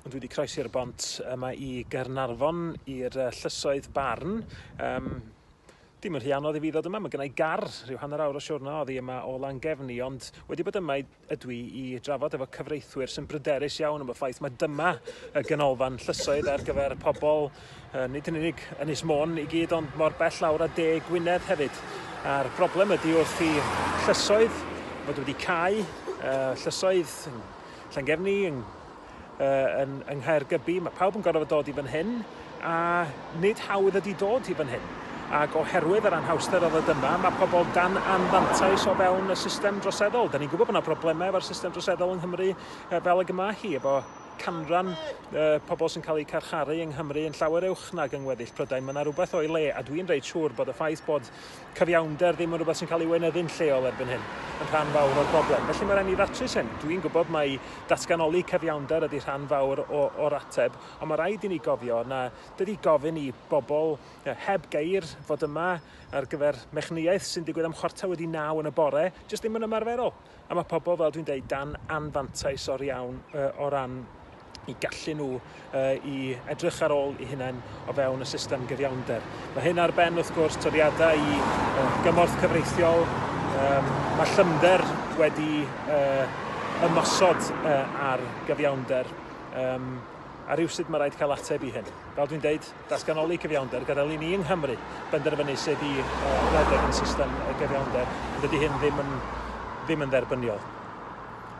Ond wedi croesi'r bont yma i Gaernarfon i'r uh, llysoedd barn. Um, dim yn rhy anodd i fi ddod yma, mae gennau gar rhyw hanner awr o siwrna oddi yma o Langefni, ond wedi bod yma ydw i i drafod efo cyfreithwyr sy'n bryderus iawn am y ffaith mae dyma y ganolfan llysoedd ar gyfer pobl, uh, nid yn unig Ynys Môn i gyd, ond mor bell lawr a de Gwynedd hefyd. A'r broblem ydy wrth i llysoedd fod wedi cael uh, llysoedd Llangefni, yn, uh, yn, yng Nghaergybi. Mae pawb yn gorfod dod i fan hyn, a nid hawdd ydy dod i fan hyn. Ac oherwydd yr anhawster oedd dyma, mae pobl dan anfantais o fewn y system droseddol. Da ni'n gwybod bod yna broblemau efo'r system droseddol yng Nghymru fel y gyma hi, efo canran uh, pobl sy'n cael eu carcharu yng Nghymru yn llawer uwch nag yng ngweddill Prydain. Mae yna rhywbeth o'i le, a dwi'n reit siŵr bod y ffaith bod cyfiawnder ddim yn rhywbeth sy'n cael ei weinyddu'n lleol erbyn hyn, yn rhan fawr o'r broblem. Felly mae rhaid ni ddatrys hyn. Dwi'n gwybod mai datganoli cyfiawnder ydy rhan fawr o, o'r ateb, ond mae rhaid i ni gofio na dydy gofyn i bobl heb geir fod yma ar gyfer mechnïaeth sy'n digwydd am chwarter wedi naw yn y bore jyst ddim yn ymarferol. A mae pobl, fel dwi'n dweud, dan anfantais o'r iawn uh, o ran i gallu nhw uh, i edrych ar ôl i hunain o fewn y system gyfiawnder. Mae hyn ar ben, wrth gwrs, toriadau i uh, gymorth cyfreithiol. Um, mae llymder wedi uh, ymosod uh, ar gyfiawnder. Um, a rhywsyd mae rhaid cael ateb i hyn. Fel dwi'n dweud, Datganoli cyfiawnder gyda lun i yng Nghymru, benderfynu sut i redeg yn system gyfiawnder, dydy hyn ddim yn ddim yn dderbyniol.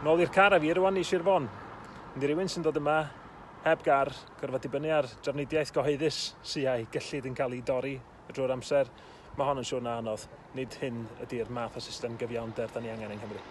Nôl i'r car a fi rwan i Sir Fon. Yndi rywun sy'n dod yma heb gar, gorfod dibynnu ar drafnidiaeth gyhoeddus sy a'i gyllid yn cael ei dorri drwy'r amser, mae hon yn siwrna anodd, nid hyn ydy'r math o system gyfiawnder da ni angen yng Nghymru.